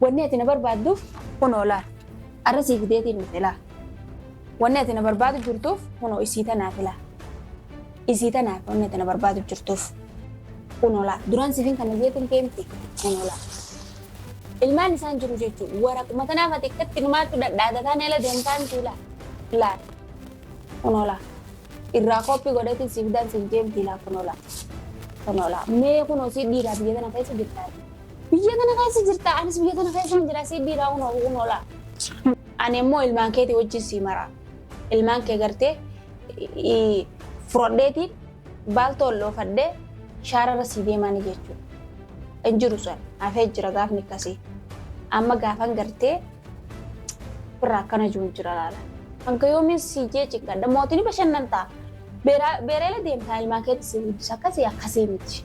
Wanni ati na barbaadduuf kunoo laa. Arra sii fideetiin dhufe laa. Wanni ati na barbaadu jirtuuf kunoo isii tanaafi laa. Isii tanaafi wanni ati na barbaadu jirtuuf. Kunoo laa. Duraan siifin kana jeetiin kee miti. Kunoo laa. Ilmaan isaan jiru jechuun waraquma tanaaf ati akkatti numaattu dhadhaadataan eela deemtaa miti laa. Laa. Kunoo laa. Irraa kooppii godheetiin siif daan siif jeemtii laa kunoo laa. Kunoo laa. Mee kunoo sii dhiiraa biyya tana keessa jirtaati. Biyya kana keessa jirta anis biyya kana keessaan jira si dhiiraa kun oguun oola. Ani immoo ilmaan keetii wajjin sii mara. Ilmaan kee gartee i- fudhadheeti baaltoo ol dhoofadhee shaararra sii deemaani jechuudha. Hin jiru san hafee jira gaafni akkasii. Amma gaafan gartee birra akkana jiru hin jira laala. Hanga yoomiin sii jee cinqadha mootiin bashannan ta'a. Beeraa- Beereela deemtaa ilmaan keetti sii guddisa akkasii akkasii miti.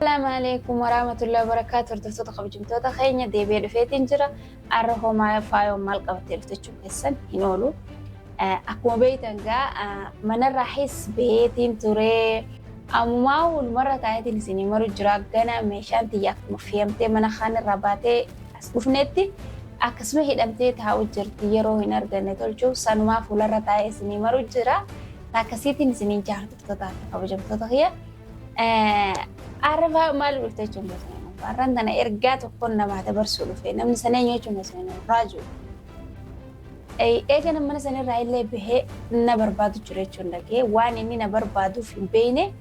Salaamu alaikum warahmatullahi wabarakatuh hordoftoota kabajamtoota keenya deebi'ee dhufeetiin jira arra homaa faayoon maal qabattee dhufte jechuun keessan hin oolu akkuma beektan gaa manarraa his beetiin turee ammumaa walumarra taa'eetiin isin maru jira gana meeshaan tiyya akkuma fe'amtee mana kaanirraa baatee as dhufneetti akkasuma hidhamtee taa'u jirti yeroo hin arganne tolchuuf sanumaa fuularra taa'ee isin maru jira akkasiitiin isin hin jaalatu. Daawwattootaa fi kabajamtoota kiyya. Arrafaa maal dhufte jechuun gosa nama. Arraan tana ergaa tokkoon namaa dabarsuu dhufe. Namni sana eenyu jechuun gosa nama. Raajuu. Eega namni sana irraa illee bahee na barbaadu jira jechuun dhagee waan inni na barbaaduuf hin beekne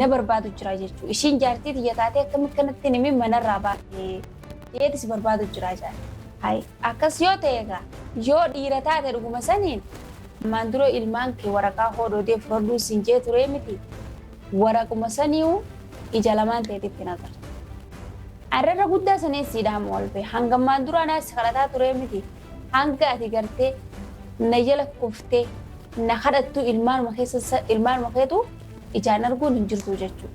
na barbaadu jira jechuudha. Ishiin jaartii tiyya taatee akkamitti kanatti nimi manarraa baate dhiyeetti si barbaadu jira jaartii. Akkas yoo ta'e egaa yoo dhiira taate dhuguma saniin Armaan dura ilmaan kee waraqaa hoodoo dee furarduu siin jee turee miti? Waraquma saniyu ija lamaan teetitti hin agartu. Arra irra guddaa san eessiidha amma ol bee? Hanga ammaan duraa naa si kadhataa turee miti? Hanga ati gartee na jala kuftee na kadhattuu ilmaanuma keessa ilmaanuma keetu ijaan arguun hin jirtuu jechuu.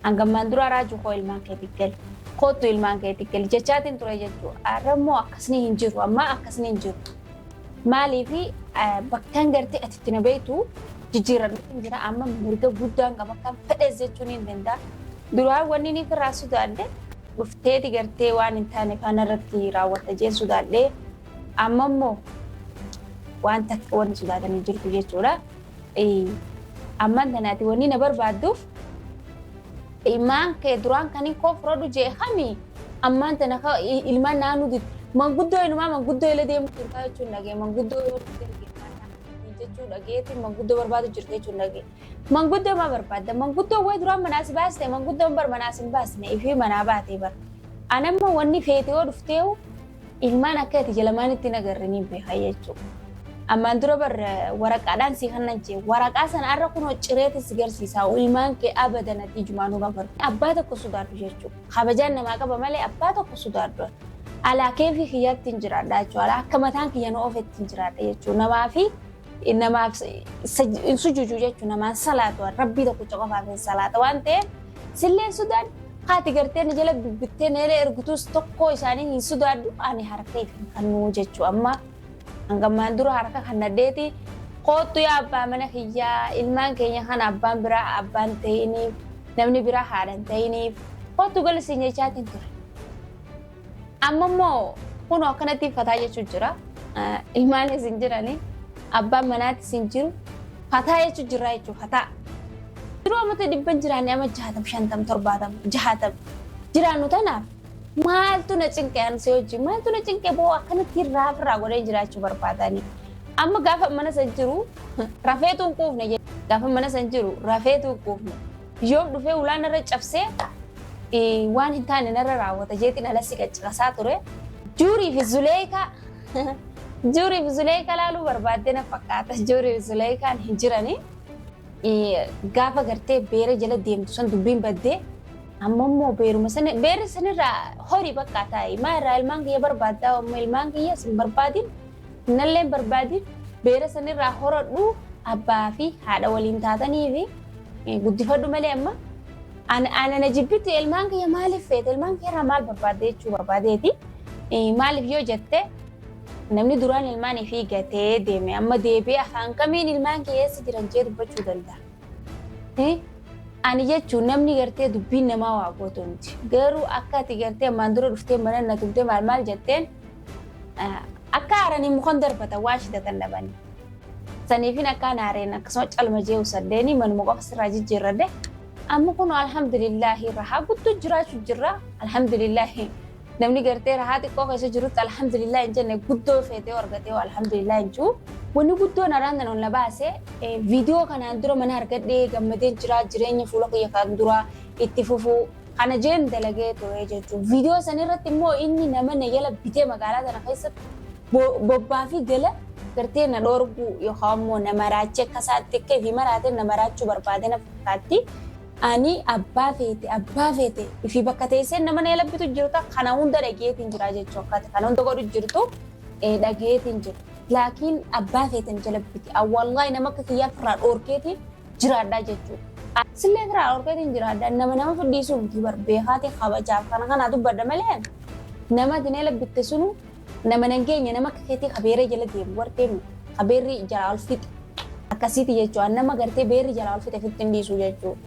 Hanga ammaan duraa raajuu koo ilmaan keeti gali. Koottu ilmaan keeti gali jechaatiin turee jechuu. Arra immoo akkasni hin jiru ammaa akkasni hin jiru. Maaliif bakkaan gartee ati itti na beektu jijjiiramee hin jira amma mirga guddaan qaba kan fedhes jechuun hin danda'a. Duraa wanni inni irraa sodaadhe dhufteeti gartee waan hin taane faana irratti raawwatta jeen sodaadhe amma immoo waan takka wanni sodaatan hin jirtu jechuudha. Ammaan tanaati wanni na barbaadduuf Ilmaan kee duraan kan hin koofrodhu jee kami ammaan tana ka i- ilmaan naannoo dit manguddoo inumaa manguddoo ila deemu jirtaa jechuun dhagee manguddoo yoo dhufte ilmaan naannoo jechuun dhageeti manguddoo barbaadu jirta jechuun dhagee manguddoo maa barbaadda manguddoo way duraan manaa si baaste manguddoon bar manaa si hin baasne ifii manaa baatee bar anamma wanni feete yoo dhufteehu Ilmaan akka ati ija lamaanitti hin agarre ni beeka jechuudha. Ammaan dura bar waraqaadhaan si hannan jee waraqaa sana har'a kunoo cireeti si garsiisaa ilmaan kee abadan ati ijumaan hin agarre. Abbaa tokko sodaadhu jechuudha. Kabajaan namaa qaba malee abbaa tokko sodaadhu. Alaa keefii kiyyaatti hin jiraadha jechuudha. Alaa akka mataan kiyya na oofetti hin jiraadha jechuudha. Namaa fi namaaf hin sujuudu jechuun namaan salaatu rabbii tokkicha qofaaf hin salaata waan ta'eef silleen sudaan haati gartee na jala dubbittee na jala ergutus tokkoo isaanii hin sudaadhu ani harka ittiin kannuu jechuu amma hangammaan dura harka kan nadheeti koottu yaa abbaa mana kiyyaa ilmaan keenya kana abbaan biraa abbaan ta'iniif namni biraa haadhan ta'iniif koottu galisiin jechaatiin ture. Amma immoo kunoo akkanatti fataa jechuun jira. Ilmaanis hin jirani. Abbaan manaatis hin jiru. Fataa jechuun jira jechuudha fataa. Yeroo ammatti dhibban jiraanne amma jaatam shantam torbaatam jaatam jiraannu tanaaf maaltu na cinqe an si hojii maaltu na cinqe boo akkanatti irraa ofirraa godhee jiraachuu barbaadani. Amma gaafa mana san jiru rafeetu hin quufne gaafa mana san jiru rafeetu hin quufne. Yoom dhufee ulaa narra cabsee eh, waan hin taane narra raawwata jeetiin alassi qaccirasaa ture. Juurii fi Zuleekaa Juurii fi Zuleekaa laaluu barbaaddee na fakkaata. Juurii fi Zuleekaan hin jiranii. Eh, Gaafa gartee beera jala deemtu san dubbiin baddee amma immoo beeruma sana beerri sanirraa horii bakka taa'i. Maa irraa ilmaan kiyya barbaaddaa amma ilmaan kiyya sin barbaadin nalleen barbaadin beera sanirraa horadhu abbaa fi haadha waliin taatanii fi Guddifadhu malee amma ana na jibbitti ilmaan kiyya maaliif feete ilmaan kiyya irraa maal barbaadde jechuu barbaadeeti. Maaliif yoo jette namni duraan ilmaan ifii gatee deeme amma deebi'ee afaan kamiin ilmaan kiyya eessa jiran jee dubbachuu danda'a. Ani jechuun namni gartee dubbiin namaa waa gootu miti. Garuu akka ati gartee ammaan dura dhuftee mana na tumtee maal maal jetteen Akka aaranii mukan darbatan waan shidatan dhabanii. Saniifin akka naareen akkasuma calma jee usaddeeni manuma qofa sirraa jijjiirradde. Amma kun alhamdulillaahi rahaa guddoo jiraachuu jirra. Alhamdulillaahi namni gartee rahaa xiqqoo keessa jirutti alhamdulillaahi hin jenne guddoo feetee argatee alhamdulillaahi hin jiru. Wanni guddoon araan tan ol na baase viidiyoo kanaan dura mana argadhee gammadee jira jireenya fuula kiyya kan dura itti fufuu Kana jeen dalagee ture jechuun viidiyoo sana irratti immoo inni nama na jala bitee magaalaa sana keessatti bobbaa fi gala gartee na dhoorguu yookaan immoo na maraachee akka isaatti akka ifi maraatee na maraachuu barbaade na fakkaatti. Ani abbaa feete abbaa feete ifi bakka teessee nama na jala bitu jirta kana hunda dhageetiin jira jechuu akkaati kana hunda godhu jirtu dhageetiin jira. Laakiin abbaa feete na jala biti. Awwaallahi nama akka kiyyaa firraa dhoorkeetiin jiraadhaa jechuudha. Sillee firaa dhorkeetiin jiraadha. Nama nama fidhiisuu miti bar beekaati kabajaaf kana kana dubbadha malee nama dinee labbitte sunu nama nan geenye nama akka keetii kabeeree jala deemu warqee miti. Kabeerri jalaa ol fixe. Akkasiiti jechuudha. Nama gartee beerri jalaa ol fixe fitti hin dhiisuu jechuudha.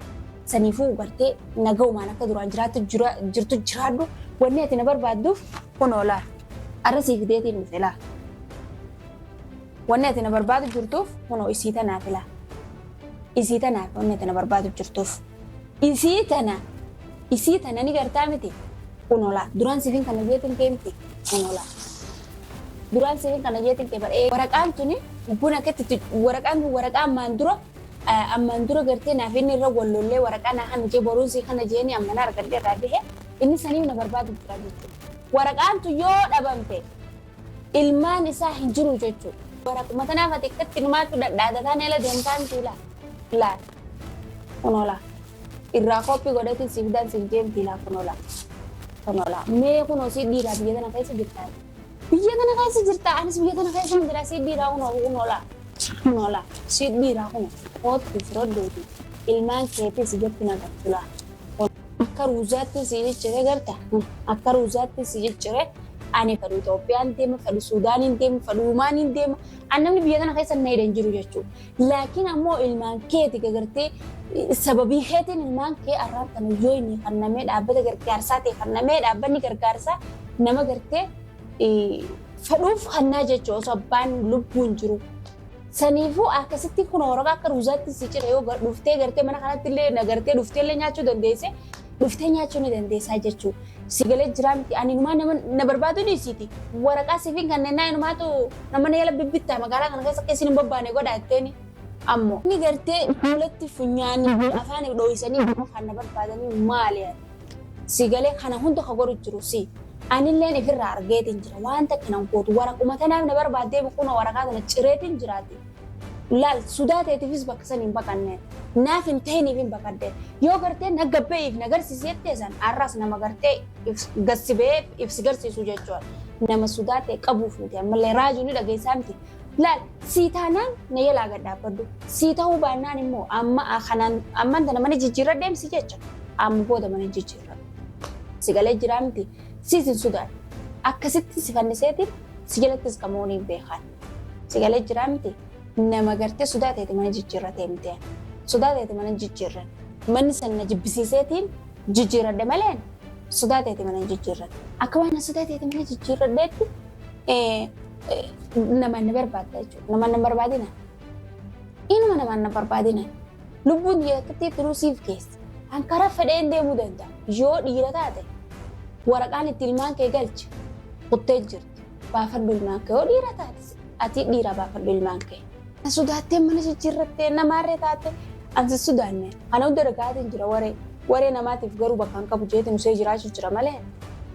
Saniifuu gartee nagaumaan akka duraan jiraattu jira- jirtu jiraadhu. Wanni ati na barbaadduuf kun oolaa. Arra sii fideetiin dhufe laa. Wanni ati na barbaadu jirtuuf kunoo isii tanaa filaa. Isii tanaa fi wanni ati na barbaadu jirtuuf. Isii tana isii tana ni gartaa miti kunoo laa duraan siifin kana jeetin kee miti kunoo laa. Duraan siifin kana jeetin kee bara waraqaan tuni buna ketti waraqaan kun waraqaa ammaan dura ammaan dura gartee naaf inni irra wal lollee waraqaa naa kana jee boruun sii kana jeeni amma na argadhe irraa bahe inni sanii na barbaadu jira jechuudha. Waraqaan tun yoo dhabamte Ilmaan isaa hin jiru jechuudha. Bara kuma tanaaf ati akkatti numaatu dhadhaatataan ala deemtaan siilaa. Laa. Kunoola. Irraa koppii godhati siif daan siif deemti laa kunoola. Kunoola. Mee kunoo si dhiiraa biyya tana keessa jirtaa. Biyya tana keessa jirtaa anis biyya tana keessa hin jiraa si dhiiraa kunoo kunoola. Kunoola. Si dhiiraa kunoo. Koottu firoddeeti. Ilmaan keetis jetti nagartu laa. Akka ruuzaatti si ciccire garta. Akka ruuzaatti si ciccire ani fedhu Itoophiyaan deema, fedhu Suudaaniin deema, fedhu Umaaniin deema. An namni biyya kana keessa na hidhan jiru jechuudha. Laakiin ammoo ilmaan keeti gagartee sababii keetiin ilmaan kee arraan kana yoo inni kannamee dhaabbata gargaarsaa ta'e kannamee dhaabbanni gargaarsaa nama gartee fedhuuf kannaa jechuudha osoo abbaan lubbuun jiru. Saniifuu akkasitti kun Oromoo akka ruuzaatti si cina yoo gar- dhuftee gartee mana kanatti illee na gartee dhuftee illee nyaachuu dandeesse dhuftee nyaachuu ni dandeessaa jechuudha. Si galee jiraa miti ani inumaa nama na barbaadu dhiisiiti. Waraqaa siifin kanneenaa inumaatu nama na yala bibbittaa magaalaa kana keessa akka isin hin bobbaane godhaatteeni. Ammoo inni gartee fuulatti funyaanii fi afaan dhooysanii nama kan na barbaadanii maali ani? Sii galee kana hunda ka godhu jiru sii. Anilleen ifirraa argeetiin jira waan takka nan gootu waraquma tanaaf na barbaaddeemi kunoo waraqaa tana cireetiin jiraati. Laal sudaa teetiifis bakka san hin baqanne naaf hin tahiniifin baqadde yoo gartee na gabbe'iif na garsiisi jettee san arraas nama gartee gad si ba'ee if si garsiisu jechuudha. Nama sudaa ta'e qabuu fuute ammallee raajuu ni dhageessaa miti Laal sii taanaan na jalaa gad dhaabbadhu. Sii ta'uu baannaan immoo amma kanaan amman tana mana jijjiirra deemsi jecha amma booda mana jijjiirra. Si galee jiraa miti siis hin sudaan. Akkasitti si fanniseetiin si jalattis kan moonii hin beekaan. Si galee jiraa miti nama gartee sodaa ta'eeti mana jijjiirra deemtee. Sodaa ta'eeti mana jijjiirra. Manni san na jibbisiiseetiin jijjiirradhe malee sodaa ta'eeti mana jijjiirra. Akka waan sodaa ta'eeti mana jijjiirradheetti namaan na barbaadda jechuudha. Namaan na barbaadina. Inuma namaan na barbaadina. Lubbuun biyya takkatti turuu siif keessa. Kan karaa fedheen deemuu danda'a. Yoo dhiira taate waraqaan itti ilmaan kee galche kuttee jirti. Baafadhu ilmaan kee. Yoo dhiira taate ati dhiira baafadhu ilmaan kee. Na sodaattee mana jijjiirrattee namaarree taate ansi sodaanne. Kana hunda dhagaatiin jira waree. Waree namaatiif garuu bakka hin qabu jeetiin usee jiraachuu jira malee.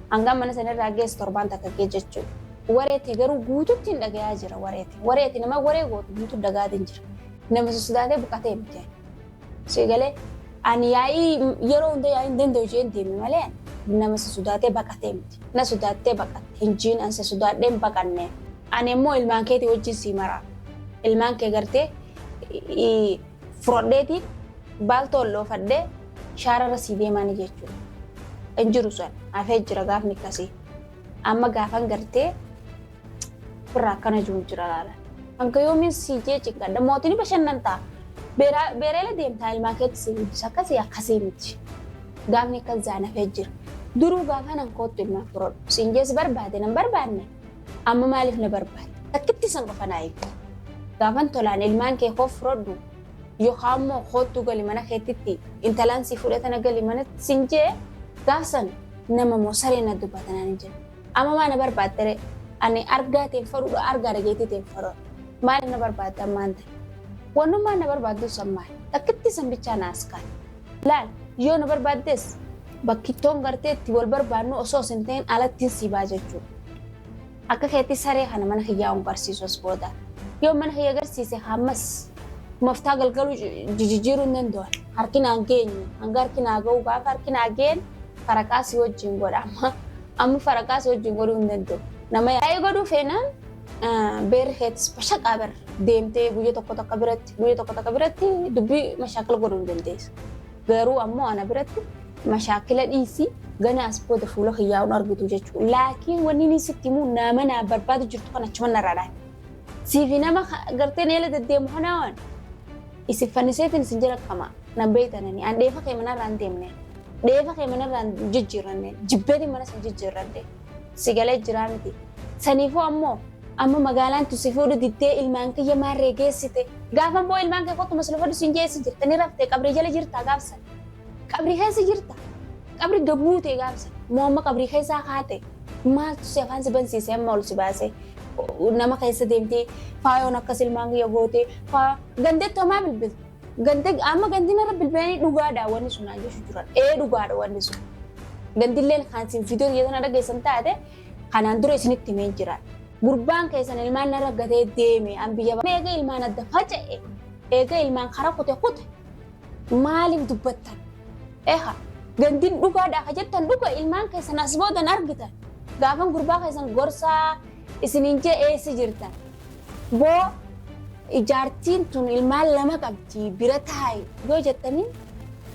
Hangaan mana sanarraa geessu torbaan takka gee jechuudha. Wareeti garuu guututti hin dhagayaa jira wareeti. Wareeti nama waree gootu guutu dagaatiin jira. Nama sodaatee buqatee miti. Si galee ani yaa'ii yeroo hunda yaa'ii hin danda'u jeen deemi malee nama si sodaatee baqatee miti. Na sodaattee baqatte hin jiin an si sodaadhee hin baqanne. Ani immoo ilmaan keetii wajjin sii maraa. Ilmaan kee gartee furadheeti baaltoo ol dhoofadhee shaararra sii deemaani jechuudha. Hin jiru san hafee jira gaafni akkasii. Amma gaafan gartee birraa akkana jiru jira laala. Hanga yoomiin sii jee cinqadha mootiin bashannan ta'a. Beereela deemtaa ilmaa keetti sii guddisa akkasii akkasii miti. Gaafni akkas zaanafee jira. Duruu gaafa nan koottu ilmaa firodhu. Siin jees barbaade nan barbaanne. Amma maaliif na barbaade? Takkitti san qofa naa eegdu. Gaafan tolaan ilmaan kee koo firodhu yookaan immoo koottuu gali mana keettitti intalaan sii fudhatana gali manatti siin jee gaafsan nama moo saree na dubbata naan hin jedhu. Amma maa na barbaadde ree? Ani argaa ta'e fadhuudha argaa dhageettii ta'e fadhuudha. Maaliif na barbaadde ammaan ta'e? Wannummaa na barbaaddu san maali? Takkitti san bichaa na as kaa'e. Laal yoo na barbaaddes bakkittoon gartee itti wal barbaadnu osoo sin ta'in alattiin si baa jechuudha. Akka keetti saree kana mana kiyyaa hin garsiisu as booda. Yoo mana kiyya garsiise hammas moftaa galgaluu jijijjiiruu hin danda'u. Harki naan geenyu hanga harki naa ga'u gaafa harki naa ga'een faraqaa si wajjin godha amma amma faraqaa si wajjin godhuu hin danda'u. Nama yaa'ii godhuu feenaan beerri keetis bashaqaa bar deemtee guyya tokko takka biratti guyya tokko takka biratti dubbii mashaakala godhuu hin dandeessu. Garuu ammoo ana biratti mashaakila dhiisii gana as booda fuula kiyyaa hin argitu jechuudha. Laakiin wanni inni sitti himu nama naa barbaadu jirtu kan achuma narraa dhaate. Siifi nama gartee na jala deddeemu kanaa waan isin fanniseetiin isin jala qamaa nan beektanani an dheefa kee manarraa hin deemne dheefa kee manarraa hin jijjiirranne jibbeetiin manas hin jijjiirranne. Si galee jiraa miti. Saniifuu ammoo amma magaalaan tun si fuudhu diddee ilmaan kiyya maarree geessite. Gaafa ammoo ilmaan kee kottu maslufadhu siin jee eessa jirta ni raftee qabrii jala jirtaa gaaf san. Qabrii keessa jirta. Qabri gabbuutee gaaf san. Moo amma qabrii keessaa kaate. Maaltu si afaan si bansiise amma ol si baase. Nama keessa deemtee faayoon akkas ilmaan kiyya gootee faa gandetti homaa bilbilta. Ganti amma ganti narra bilbilanii dhugaadha wanni sun naan jechuu turan. Ee dhugaadha wanni sun. Gantilleen kan isin fidee biyya sana dhageessan taate kanaan dura isinitti himeen jira. Gurbaan keessan ilmaan narra gatee deeme an biyya ba'a. Eega ilmaan adda faca'e eega ilmaan karaa kute kute maaliif dubbattan? Eha gantiin dhugaadha ka jettan dhuga ilmaan keessan as boodan argitan. Gaafan gurbaa keessan gorsaa isiniin jee eessa jirta boo ijaartiin tun ilmaan lama qabdi bira taa'i yoo jettanii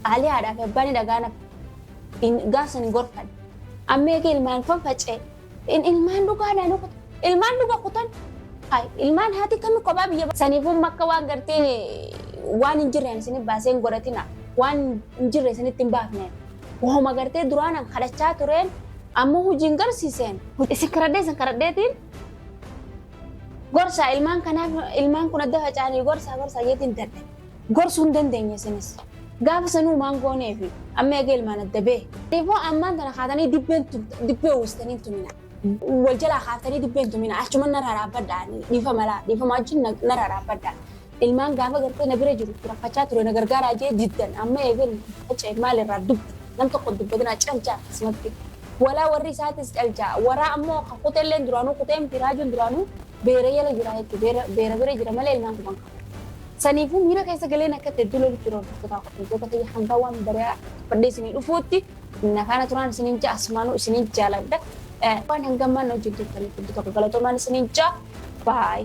qaalii haadhaa fi abbaan dhagaan gaafsan hin gorfan amma eegee ilmaan fan faca'e in ilmaan dhugaa naannoo kutan ilmaan dhugaa kutan hay ilmaan haati kami kophaa biyya ba- saniifuu makka waan gartee waan hin jirreen isin baasee hin godhatina waan hin jirre isinitti hin baafne Wahuma gartee duraan an kadhachaa tureen ammoo hojiin garsiiseen. Isin kadhadhee isin kadhadheetiin gorsaa ilmaan kanaaf ilmaan kun adda faca'anii gorsaa gorsaa jeetiin dadhe. Gorsuu hin dandeenye isinis. Gaafa sanuu maan goonee fi amma eega ilmaan adda bee. Deeboo ammaan tana kaatanii dibbeen dibbee uwwistanii hin tumina. Wal jalaa kaaftanii dibbeen tumina achuman narraa dhaabbadhaa dhiifa malaa dhiifama wajjin narraa dhaabbadhaa. Ilmaan gaafa gartee na bira jiru rakkachaa ture na gargaaraa jee diddan amma eegan faca'e maal irraa dubbi nam tokko dubbatinaa calchaa akkasumatti walaa warri isaatis calchaa waraa ammoo ka kutelleen duraanuu kutee miti raajuun duraanuu beera jala jira jechuun beera beera bira jira malee ilmaan guban qabu. Saniifuu miira keessa galeen akka itti hedduu lolutti jiru hordoftotaa qopheessitoota kiyya hanga waan bari'aa fadhee isinii dhufuutti na faana turaan isiniin ja'a asumaanuu isiniin jaaladha. Eh, Waan hanga ammaan na wajjin turtaniif hedduu tokko galatoomaan isiniin ja'a. Bye.